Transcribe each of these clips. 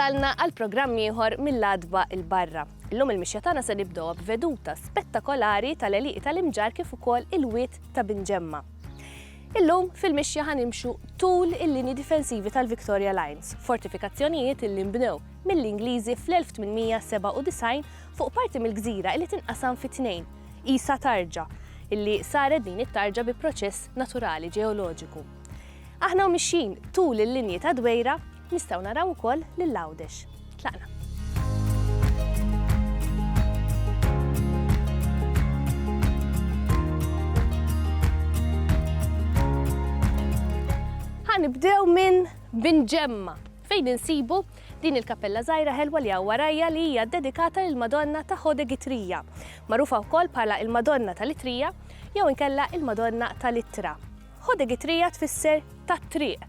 wasalna għal programm ieħor mill-adba il-barra. Illum il-mixja tagħna se nibdew b'veduta spettakolari tal-eliq tal-imġar kif ukoll il-wiet ta' Binġemma. Illum fil-mixja ħa nimxu tul il-linji difensivi tal-Victoria Lines, fortifikazzjonijiet illi nbnew mill-Ingliżi fl-1897 fuq parti mill-gżira illi tinqasam fi tnejn, qisha tarġa, illi saret din it-tarġa bi proċess naturali ġeoloġiku. Aħna u mixjin tul il-linji tad-dwejra, Nistgħu naraw ukoll lil Għawdex. Tlaqna. Ħa nibdew minn Bin Ġemma fejn insibu din il-kappella żgħira ħelwa li hawn warajja li hija dedikata lil Madonna ta' Ħode Gitrija, magħrufa wkoll bħala il-Madonna tal-Itrija jew inkella il-Madonna tal-Ittra. Ħode Gitrija tfisser tat-triq.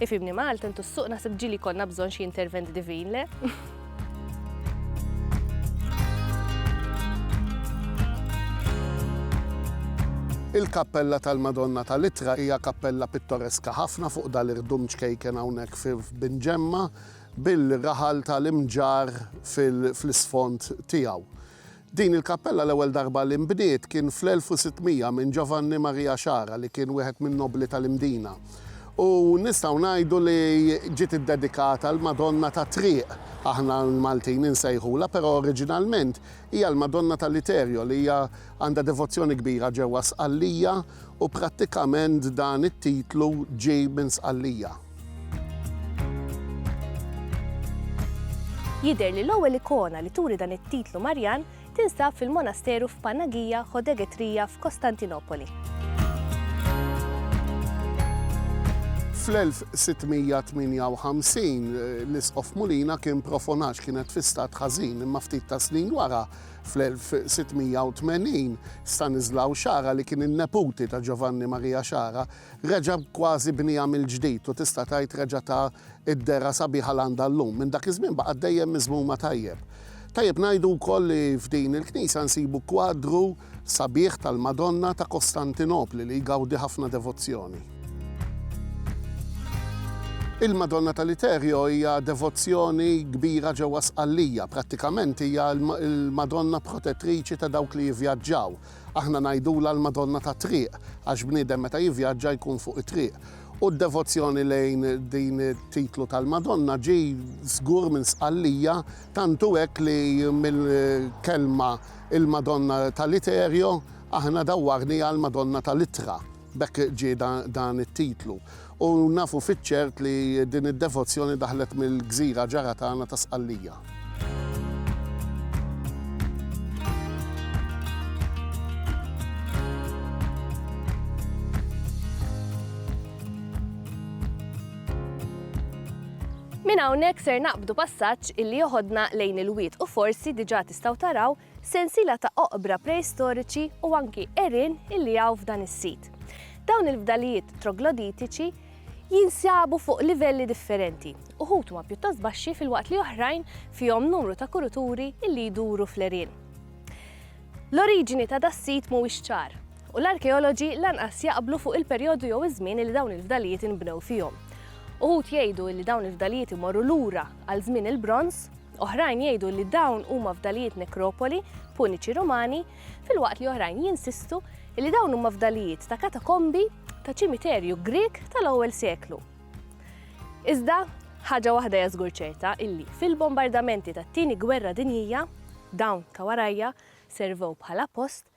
Ifhimni Malta, intu s-suq naħseb ġili jkollna bżonn xi intervent divin, le? Il-kappella tal-Madonna tal-Itra hija kappella pittoreska ħafna fuq dal-irdum ċkejken hawnhekk fi Binġemma bil-raħal tal-imġar fl-isfond tiegħu. Din il-kappella l-ewwel darba li nbniet kien fl-1600 minn Giovanni Maria Sciarra li kien wieħed min-nobbli tal-Imdina u nistgħu ngħidu li ġiet iddedikata l-Madonna tat-Triq aħna l-Maltin insejħulha però oriġinalment hija l-Madonna ta' Literio li hija għandha devozzjoni kbira ġewwa Sqallija u prattikament dan it-titlu ġie minn Sqallija. Jidher li l-ewwel ikona li turi dan it-titlu Marjan tinsab fil-monasteru f'Panagia Chodegetria f'Kostantinopoli. Fl-1658 l-Isqof Mulina kien profonax kienet fi stat ħażin imma ftit ta' snin wara fl-1680 Stanislaw Xara li kien in-neputi ta' Ġovanni Marija Xara Reġa' kważi bnieha mill-ġdid u tista' tgħid reġa' ta d-dehra sabiħa l-għandha llum. Minn dak iż-żmien baqgħet dejjem miżmuma tajjeb. Tajjeb ngħidu wkoll li f'din il-knisja nsibu kwadru sabiħ tal-Madonna ta' Kostantinopli li jgawdi ħafna devozzjoni. Il-Madonna ta' Literio hija devozzjoni kbira ġewwa Sqallija. Prattikament hija l-Madonna protettriċi ta' dawk li jivvjaġġaw. Aħna ngħidulha l-Madonna tat-Triq għax bniedem meta jivvjaġġa jkun fuq it-triq. U d-devozzjoni lejn din it-titlu tal-Madonna ġie żgur minn Sqallija, tantu hekk li mill-kelma il-Madonna ta' Literio aħna dawwarniha l-Madonna ta' Litra. B'hekk ġie dan it-titlu. U nafu fiċ-ċert li din id-devozzjoni daħlet mill-gżira ġara tagħna ta' Sqallija. Minn hawnhekk ser naqbdu passaġġ illi joħodna lejn il-wied u forsi diġà tistgħu taraw sensiela ta' oqbra preistoriċi u anki għerien illi hawn f'dan is-sit. Dawn il-fdalijiet trogloditiċi jinsabu fuq livelli differenti, uħud huma pjuttost baxxi filwaqt li oħrajn fihom numru ta' kuruturi illi jduru fl-għerien. L-oriġini ta' das-sit mhuwiex ċar, u l-arkeoloġi lanqas jaqblu fuq il-perjodu jew iż-żmien illi dawn il-fdalijiet inbnew fihom. Uħud jgħidu illi dawn il-fdalijiet imorru lura għal żmien il-Bronż, oħrajn jgħidu li dawn huma fdalijiet nekropoli Puniċi Rumani, filwaqt li oħrajn jinsistu li dawn huma fdalijiet ta' katakombi ta' ċimiterju Grieg tal-ewwel seklu. Iżda, ħaġa waħda hija żgur ċerta illi fil-bombardamenti tat-Tieni Gwerra Dinjija, dawn ta' warajja servew bħala post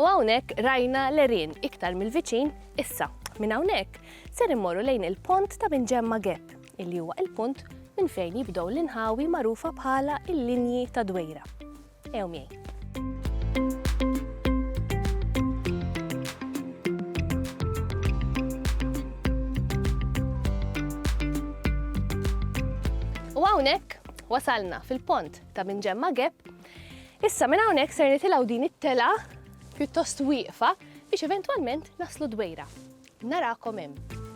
U hawnhekk rajna l-erien iktar mill-viċin issa. Minn hawnhekk ser immorru lejn il-pont ta' minn ġemma Gap, illi huwa il-punt minn fejn jibdew l-inħawi magħrufa bħala il-linji ta' dwejra. Ew miegħi. U hawnhekk Wasalna fil-pont ta' minn ġemma gap. Issa minn hawnhekk ser nitilgħu din it-tela pjuttost wieqfa biex eventwalment naslu dwejra. Narakom hemm.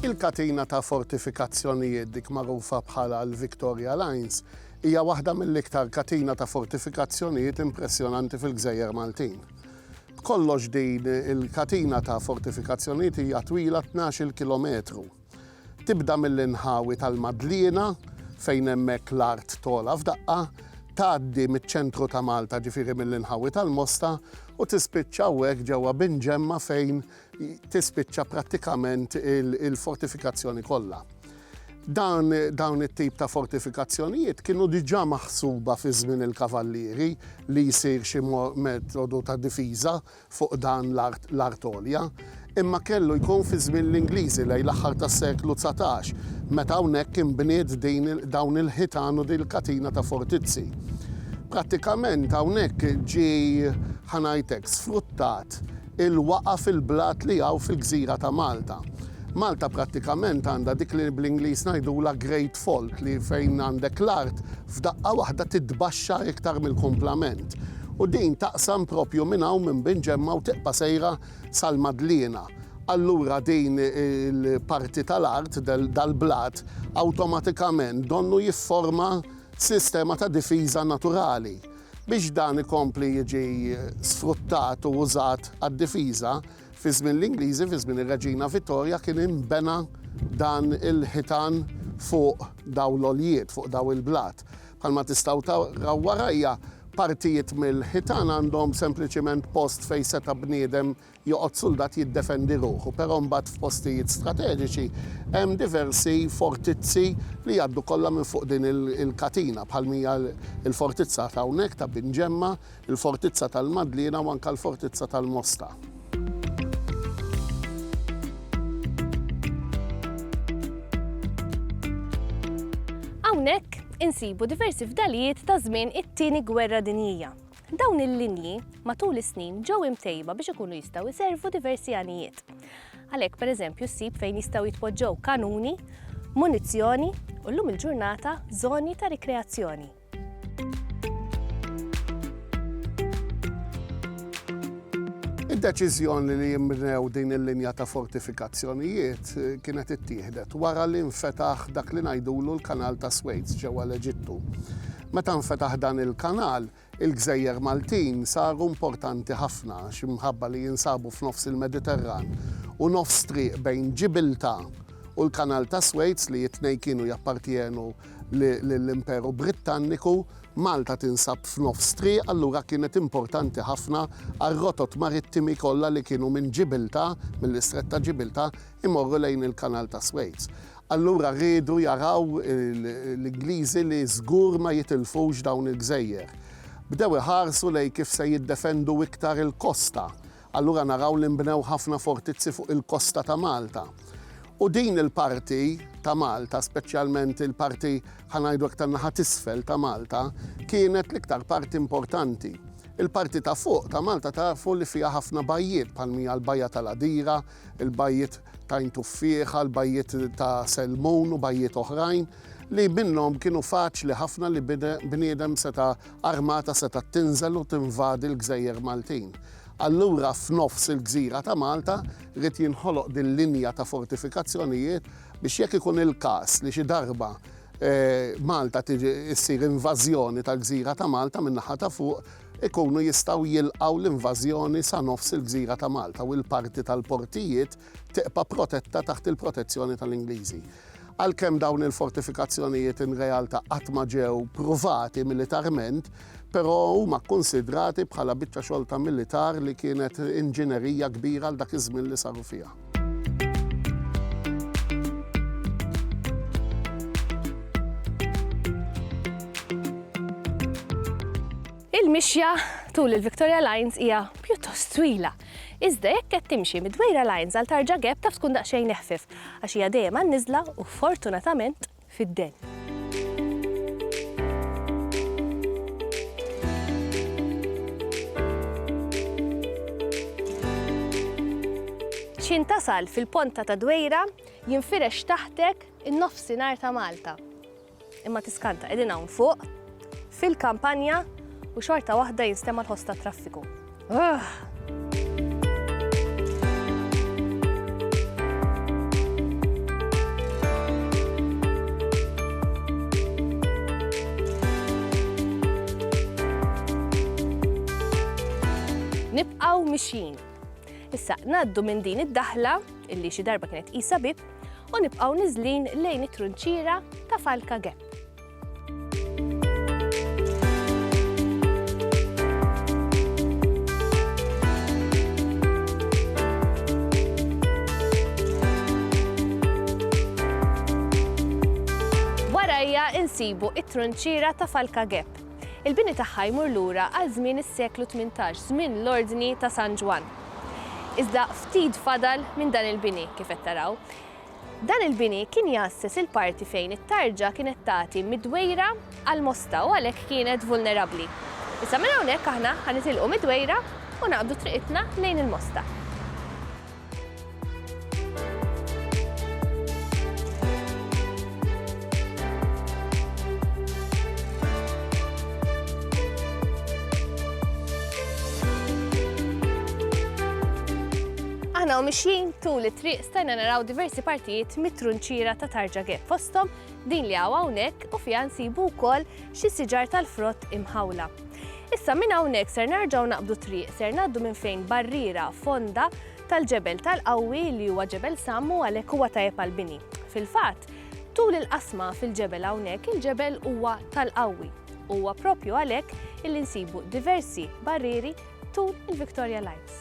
Il-katina ta' fortifikazzjonijiet dik magħrufa bħala l-Victoria Lines Hija waħda mill-iktar katina ta' fortifikazzjonijiet impressjonanti fil-gżejjer Maltin. B'kollox din il-katina ta' fortifikazzjonijiet hija twila tnax-il kilometru. Tibda mill-inħawi tal-Madliena, fejn hemmhekk l-art togħla f'daqqa, tgħaddi miċ-ċentru ta' Malta ġifieri mill-inħawi tal-Mosta u tispiċċa hawnhekk ġewwa Binġemma fejn tispiċċa prattikament il-fortifikazzjoni kollha. Dan, dawn it-tip ta' fortifikazzjonijiet kienu diġà maħsuba fi żmien il-kavallieri li jsir xi metodu ta' difiża fuq dan l-art għolja, imma kellu jkun fi żmien l-Ingliżi lejn l-aħħar tas-seklu dsatax, meta hawnhekk inbniet din dawn il-ħitan u din il-katina ta' fortizzi. Prattikament hawnhekk ġie, ħa ngħid hekk, sfruttat il-waqgħa fil-blat li hawn fil-gżira ta' Malta. Malta prattikament għandha dik li bl-Ingliż ngħidulha great fault li fejn għandek l-art f'daqqa waħda titbaxxar iktar mill-kumplament. U din taqsam proprju minn hawn minn Bin Ġemma u tibqa' sejra sal-Madliena. Allura din il-parti tal-art, dal-blat, awtomatikament donnu jifforma sistema ta' difiża naturali. Biex dan ikompli jiġi sfruttat u użat għad-difiża, fi żmien l-Ingliżi, fi żmien ir-Reġina Vittorja, kien inbena dan il-ħitan fuq dawn l-għoljiet, fuq dawn il-blat. Bħalma tistgħu taraw warajja, partijiet mill-ħitan għandhom sempliċiment post fejn seta' bniedem joqgħod suldat jiddefendi ruħu, però mbagħad f'postijiet strateġiċi hemm diversi fortizzi li jgħaddu kollha minn fuq din il-katina, bħal mija l-fortizza ta' hawnhekk ta' Bin Ġemma, il-fortizza tal-Madliena u anke l-fortizza tal-Mosta. Hawnhekk insibu diversi fdalijiet ta' żmien it-Tieni Gwerra Dinjija. Dawn il-linji matul is-snin ġew imtejba biex ikunu jistgħu jservu diversi għanijiet. Għalhekk, pereżempju, ssib fejn jistgħu jitpoġġew kanuni, munizzjoni u llum il-ġurnata żoni ta' rikreazzjoni. Id-deċiżjoni li jinbnew din il-linja ta' fortifikazzjonijiet kienet ittieħdet wara li nfetaħ dak li ngħidulu l-Kanal tas-Swejd ġewwa l-Eġittu. Meta nfetaħ dan il-kanal, il-gżejjer Maltin saru importanti ħafna għax imħabba li jinsabu f'nofs il-Mediterran u nofs triq bejn Ġibilta u l-Kanal tas-Suez li t-tnejn kienu jappartjenu lill-Imperu Brittanniku, Malta tinsab f'nofs triq allura kienet importanti ħafna għar-rotot marittimi kollha li kienu minn Ġibilta, mill-Istrett ta' Ġibilta, imorru lejn il-Kanal tas-Suez. Allura riedu jaraw l-Ingliżi li żgur ma jitilfux dawn il-gżejjer. Bdew iħarsu lejn kif se jiddefendu iktar il-kosta. Allura naraw li nbnew ħafna fortizzi fuq il-kosta ta' Malta. U din il-parti ta' Malta, speċjalment il-parti, ħa ngħidu hekk, tan-naħa t'isfel ta' Malta, kienet l-iktar parti importanti. Il-parti ta' fuq ta' Malta tafu li fiha ħafna bajjiet bħal mija l-Bajja tal-Għadira, il-bajjiet t'Għajn Tuffieħa, l-bajjiet ta' Selmun u bajjiet oħrajn li minnhom kienu faċli ħafna li bniedem seta' armata setgħet tinżel u tinvadi l-gżejjer Maltin. Allura f'nofs il-gżira ta' Malta ried jinħoloq din linja ta' fortifikazzjonijiet biex jekk ikun il-każ li xi darba Malta tiġi ssir invażjoni tal-gżira ta' Malta min-naħa ta' fuq ikunu jistgħu jilqgħu l-invażjoni sa nofs il-gżira ta' Malta u l-parti tal-portijiet tibqa' protetta taħt il-protezzjoni tal-Ingliżi. Għalkemm dawn il-fortifikazzjonijiet inrealta qatt ma ġew pruvati militarment, però huma kkunsidrati bħala biċċa xogħol ta' militar li kienet inġinerija kbira għal dak iż-żmien li saru fiha. Il-mixja tul il-Victoria Lines hija pjuttost twila. Iżda jekk qed timxi mid-Dwejra Lines għal Tarġa Gap taf tkun daqsxejn eħfif għax hija dejjem għan-niżla u fortunatament fid-dell. X'ħin tasal fil-ponta ta' Dwejra jinfirex taħtek in-nofsinhar ta' Malta. Imma tiskanta, qegħdin hawn fuq. fil-kampanja u xorta waħda jinstema' l-ħoss tat-traffiku. Ugh! nibqaw mixjin. Issa, naddu minn din id-daħla, illi xi darba kienet isa bib, u nibqaw nizlin lejn it-trunċira ta' Falka Gep. Warajja insibu it-trunċira ta' Falka Gep. Il-bini tagħha jmur lura għal żmien is-seklu 18, żmien l-Ordni ta' San Ġwann. Iżda ftit fadal minn dan il-bini kif qed taraw. Dan il-bini kien jgħasses il-parti fejn it-tarġa kienet tagħti mid-dwejra għall-Mosta u għalhekk kienet vulnerabbli. Issa minn hawnhekk aħna ħa nitilqu mid-dwejra u naqbdu triqitna lejn il-Mosta. Aħna u mixjin tul it-triq stajna naraw diversi partijiet mit-trunċiera ta' Tarġage fosthom din li hawn hawnhekk u fiha nsibu wkoll xi siġar tal-frott imħawla. Issa minn hawnhekk ser narġgħu naqbdu triq ser ngħaddu minn fejn barriera fonda tal-ġebel tal-qawwi li huwa ġebel sammu għalhekk huwa tajjeb għall-bini. Fil-fatt, Tul il-qasma fil-ġebel hawnhekk il-ġebel huwa tal-qawwi. Huwa propju għalhekk illi nsibu diversi barrieri tul il-Victoria Lines.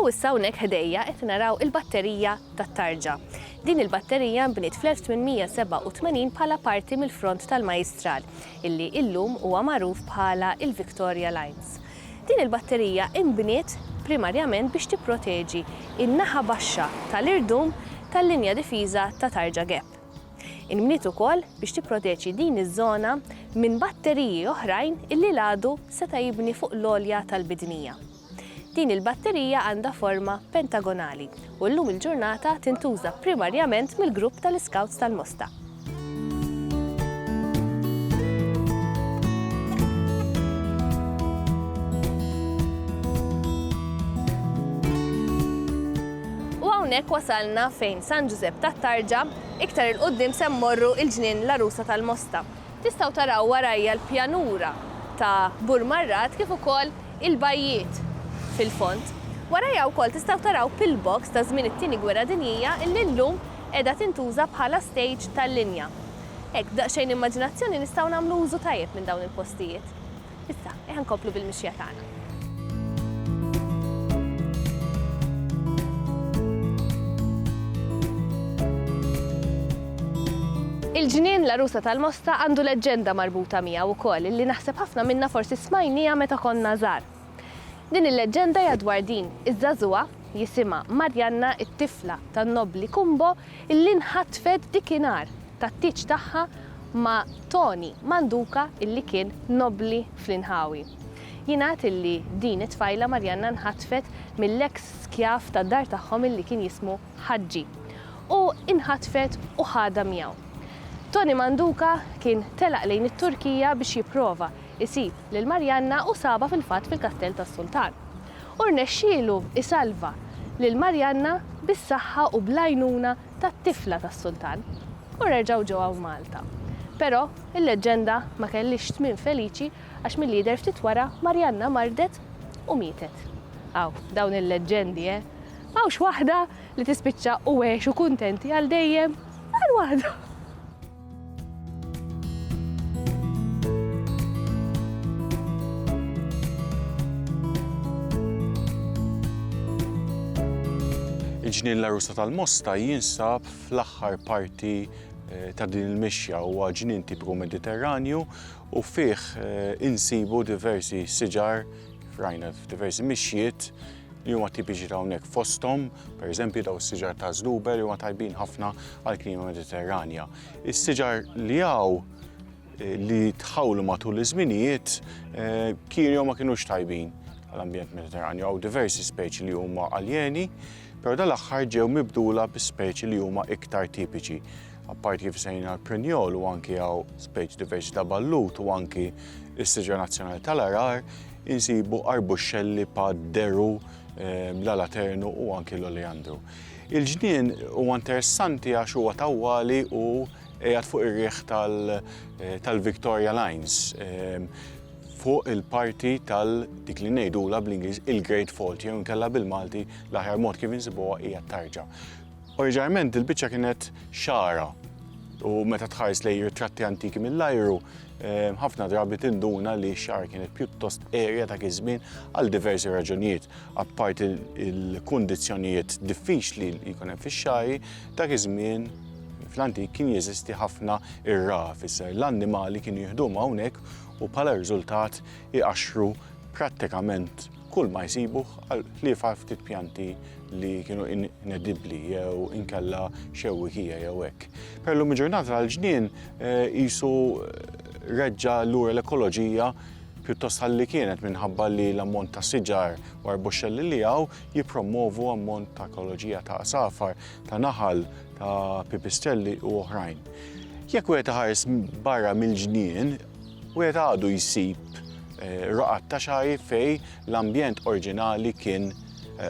U issa hawnhekk ħdejja qed naraw il-batterija tat-tarġa. Din il-batterija nbniet fl-1887 bħala parti mill-front tal-Majistral, illi illum huwa magħruf bħala il-Victoria Lines. Din il-batterija inbniet primarjament biex tipproteġi n-naħa baxxa tal-irdum tal-linja difiża ta' Tarja Gap. Inbniet ukoll biex tipproteġi din iż-żona minn batteriji oħrajn li l-għadu seta' jibni fuq l-għolja tal-bidnija. Din il-batterija għandha forma pentagonali u llum il-ġurnata tintuża primarjament mill-grupp tal-Iskawts tal-Mosta. U hawnhekk wasalna fejn San Ġużepp tat-Tarġa, iktar 'il quddiem se mmorru il-Ġnien l-Għarusa tal-Mosta. Tistgħu taraw warajja l-pjanura ta' Bur Marrat kif ukoll il-bajjiet fil-fond. Warajja wkoll tistgħu taraw pillbox ta' żmien it-Tieni Gwerra Dinjija li llum qiegħda tintuża bħala stejġ tal-linja. Hekk b'daqsxejn immaġinazzjoni nistgħu nagħmlu użu tajjeb minn dawn il-postijiet. Issa, eħa nkomplu bil-mixja tagħna. Il-ġnien l-Arusa tal-Mosta għandu leġġenda marbuta miegħu wkoll illi naħseb ħafna minna forsi smajnija meta konna żgħar. Din il-leġġenda hija dwar din iż-żagħżugħa jisimha Marjanna it-tifla tan-nobbli Kumbo illi nħatfet dikinhar tat-tieġ tagħha ma' Toni Manduca illi kien nobbli fl-inħawi. Jingħad illi din it-tfajla Marjanna nħatfet mill-eks skjav tad-dar tagħhom illi kien jismu Ħaġġi u inħatfet u ħadha miegħu. Toni Manduca kien telaq lejn it-Turkija biex jipprova jsib lil Marjanna u sabha fil-fatt fil-Kastell tas-Sultan. U rnexxielu jsalva lil Marjanna bis-saħħa u bl-għajnuna tat-tifla tas-Sultan u reġgħu ġew hawn Malta. Però, il-leġġenda ma kellhiex tmiem feliċi għax milli jidher ftit wara Marianna mardet u mietet. Aw, dawn il-leġġendi, eh! M'hawnx waħda li tispiċċa u għexu kuntenti għal dejjem bħal waħda! Il-ġnien l-Arusa tal-Mosta jinsab fl-aħħar parti eh, ta' din il-mixja huwa ġnien tipiku Mediterranju u fih eh, insibu diversi siġar rajna f'diversi mixjiet li huma tipiċi ta' hawnhekk fosthom, pereżempju daw is-siġar ta' żluber li huma tajbin ħafna għall-klima Mediterranja. Is-siġar li hawn eh, li tħawlu matul iż-żminijiet eh, kirjhom ma kinux tajbin għall-ambjent Mediterranju. Hawn diversi speċi li huma aljeni, però dal-aħħar ġew mibdula bi speċi li huma iktar tipiċi. Apparti kif sejna l-prinjol u anki għaw speċi diversi ta' ballut u anki is-siġar nazzjonali tal-arar, insibu arbuxxelli pa' deru, l-alaternu u anki l-oleandru. Il-ġnien huwa interessanti għax huwa tawwali u qiegħed fuq ir-riħ tal-Victoria Lines, fuq il-parti tal dik li ngħidulha bl-Ingliż il-Great Fault jew inkella bil-Malti l-aħjar mod kif insibuha hija t-tarġa. Oriġinarment dil-biċċa kienet xagħra u meta tħares lejn ritratti antiki mill-ajru, ħafna drabi tinduna li x-xagħra kienet pjuttost qerja dak iż-żmien għal diversi raġunijiet. Apparti l-kundizzjonijiet diffiċli li jkun hemm fix-xagħri, dak iż-żmien fl-antik kien jeżisti ħafna irgħa, fisser l-annimali kienu jieħduhom hawnhekk u bħala riżultat iqaxxru prattikament kull ma jsibu ħliefa ftit pjanti li kienu inedibbli jew inkella xewwikija jew hekk. Per lum ġurnata l-ġnien eh, jisu reġġa lura l-ekoloġija pjuttost ħalli kienet minħabba li l-ammont ta' siġar u arboxxelli li għaw jipromovu ammont ta' ekoloġija ta' safar, ta' naħal, ta' pipistrelli u oħrajn. Jekk wieħed ħares barra mill-ġnien, Wieħed għadu jsib roqgħat ta' xagħir fejn l-ambjent orġinali kien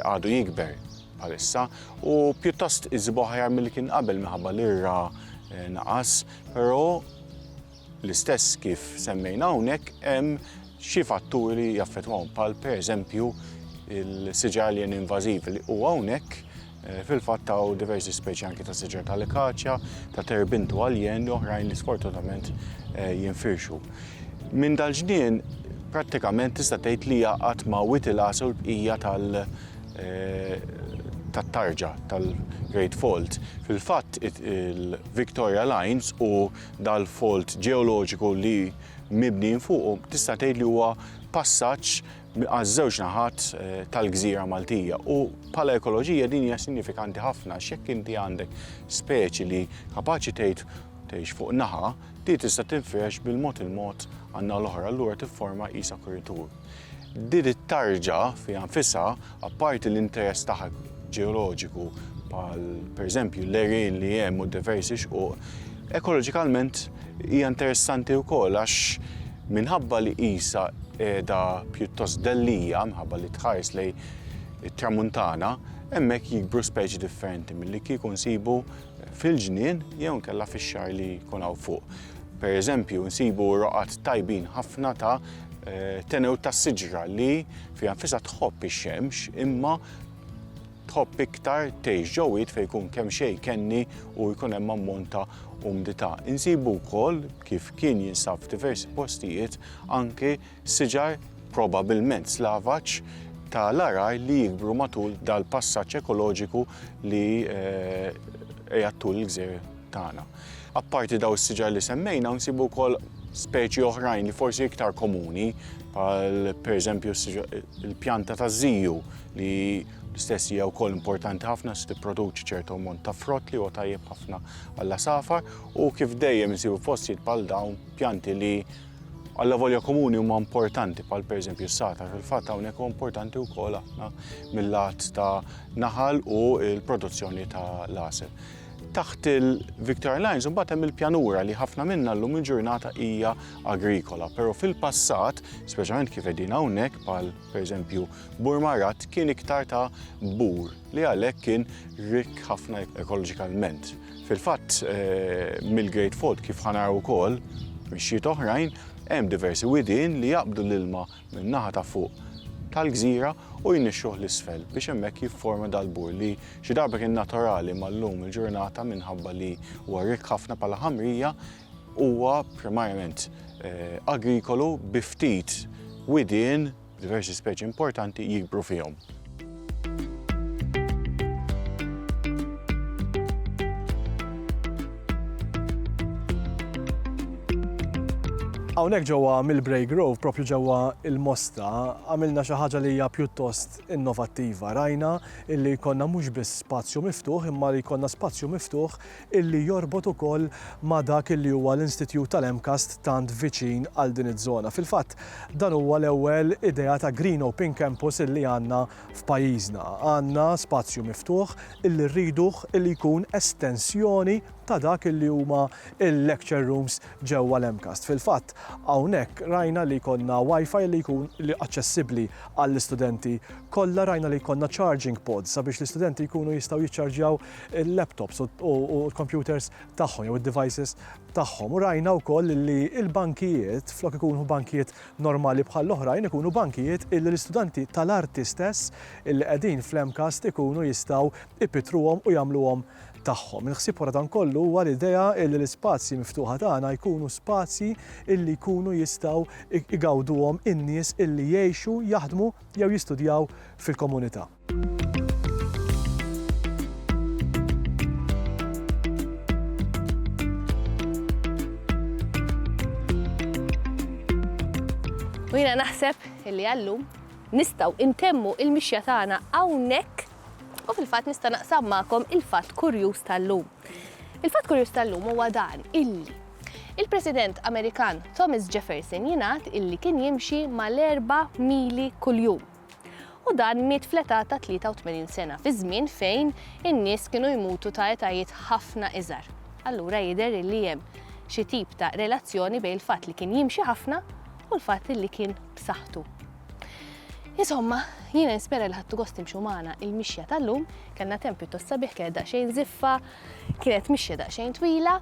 għadu jikber bħalissa u pjuttost iżibu aħjar milli kien qabel minħabba li r-ra naqas, però l-istess kif semmejna hawnhekk hemm xi fatturi li jaffettwahom bħal pereżempju l-siġar alien invażiv li hu hawnhekk Fil-fatt hawn diversi speċi anki ta' siġar ta' likaċja, ta' terbintu għaljen u oħrajn li sfortunatament eh, jinfirxu. Minn dal-ġnien prattikament tista' tgħid li jaqgħad ma' Witilas u l-bqija tal- eh, tat-tarġa tal-Great Fault. Fil-fatt il-Victoria Lines u dal-fault ġeoloġiku li mibnin fuqu tista' tgħid li huwa passaġġ għaż-żewġ naħat tal-gżira Maltija u bħala ekoloġija din hija sinjifikanti ħafna x'jekk inti għandek speċi li kapaċi tgħid tgħix fuq naħa, di tista' tinfirex bil-mod il-mod għan-naħa l-oħra allura tifforma qisha kuritur. Din it-tarġa fiha nfisha Apparti l-interess taħt ġeoloġiku bħal pereżempju l-għerien li hemm u diversi xquq, ekoloġikalment hija interessanti wkoll għax minħabba li qisha qiegħda pjuttost dellija minħabba li tħares lejn it-Tramuntana, hemmhekk jikbru speċi differenti milli kieku nsibu fil-ġnien jew inkella fix-xagħar li jkun hawn fuq. Pereżempju nsibu roqgħat tajbin ħafna ta' tenewt tas-siġra li Fiha nfisha tħobb ix-xemx imma tħobb iktar tgħix ġo wied fejn jkun kemm xejn kenni u jkun hemm ammont ta' umdità. Insibu wkoll, kif kien jinsab f'diversi postijiet, anki siġar probabilment slavaġ ta' l-għargħar li jikbru matul dal-passaġġ ekoloġiku li qiegħed tul il-gżejjer. tagħna. Apparti dawn is-siġar li semmejna, nsibu wkoll speċi oħrajn li forsi iktar komuni, bħal pereżempju l-pjanta taż-żiju li l-istess hija wkoll importanti ħafna se tipproduċi ċertu ammont ta' frott li huwa tajjeb ħafna għall safar u kif dejjem insibu fostijiet bħal dawn pjanti li għalla volja komuni huma importanti bħal pereżempju s-sata fil-fatt hawnhekk huwa importanti wkoll aħna mill-lat ta' naħal u l-produzzjoni ta' l-asel. Taħt il-Victoria Lines imbagħad hemm il-pjanura li ħafna minnha llum il-ġurnata hija agrikola, però fil-passat, speċjalment kif qegħdin hawnhekk bħal pereżempju Burmarat kien iktar ta' bur li għalhekk kien rikk ħafna ekoloġikalment. Fil-fatt mill-Great Fault kif ħa naraw ukoll mixjiet oħrajn hemm diversi widien li jaqbdu l-ilma min-naħa ta' fuq tal-gżira u jnixxuh 'l isfel biex hemmhekk jifforma dal-bur li xi darba kien naturali imma llum il-ġurnata minħabba li huwa rikk ħafna bħala ħamrija huwa primarjament agrikolu bi ftit widien b'diversi speċi importanti jikbru fihom. Hawnhekk ġewwa Millbrae Grove, propju ġewwa il-Mosta, għamilna xi ħaġa li hija pjuttost innovattiva. Rajna illi jkollna mhux biss spazju miftuħ, imma li jkollna spazju miftuħ illi jorbot ukoll ma' dak illi huwa l-Institjut tal-MCAST tant viċin għal din iż-żona. Fil-fatt, dan huwa l-ewwel idea ta' Green Open Campus illi għandna f'pajjiżna. Għandna spazju miftuħ illi rriduh illi jkun estensjoni ta' dak illi huma l-lecture rooms ġewwa l-MCAST. Fil-fatt, hawnhekk rajna li jkollna Wi-Fi illi jkun aċċessibbli għall-istudenti kollha, rajna li jkollna charging pods sabiex l-istudenti jkunu jistgħu jiċċarġjaw il-laptops u l-kompjuters tagħhom jew id-devices tagħhom. U rajna wkoll li l-bankijiet, flok ikunu bankijiet normali bħall-oħrajn, ikunu bankijiet illi l-istudenti tal-arti stess illi qegħdin fl-MCAST ikunu jistgħu jpittruhom u jagħmluhom tagħhom. Il-ħsieb wara dan kollu huwa l-idea illi l-ispazji miftuħa tagħna jkunu spazji illi jkunu jistgħu igawduhom in-nies illi jgħixu, jaħdmu jew jistudjaw fil-komunità. U jina naħseb illi għallum nistaw intemmu il-mixja tagħna hawnhekk u fil-fatt nista' naqsam magħkom il-fatt kurjuż tal-lum. Il-fatt kurjuż tal-lum huwa dan illi il-President Amerikan Thomas Jefferson jingħad illi kien jimxi mal-erba mili kuljum. u dan miet fl-età ta' 83 sena fi żmien fejn in-nies kienu jmutu ta' etajiet ħafna iżgħar. Allura jidher illi hemm xi tip ta' relazzjoni bejn il-fatt li kien jimxi ħafna u l-fatt illi kien b'saħħtu. Insomma, jiena nispera li ħadtu gost timxu magħna il-mixja tal-lum, kellna temp pjuttost sabiħ kienet daqsxejn żiffa, kienet mixja daqsxejn twila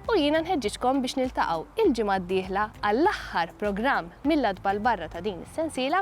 u jiena nħeġġiġkom biex niltaqgħu il-ġimgħa d-dieħla għall-aħħar programm mill-għatba 'l barra ta' din is-sensiela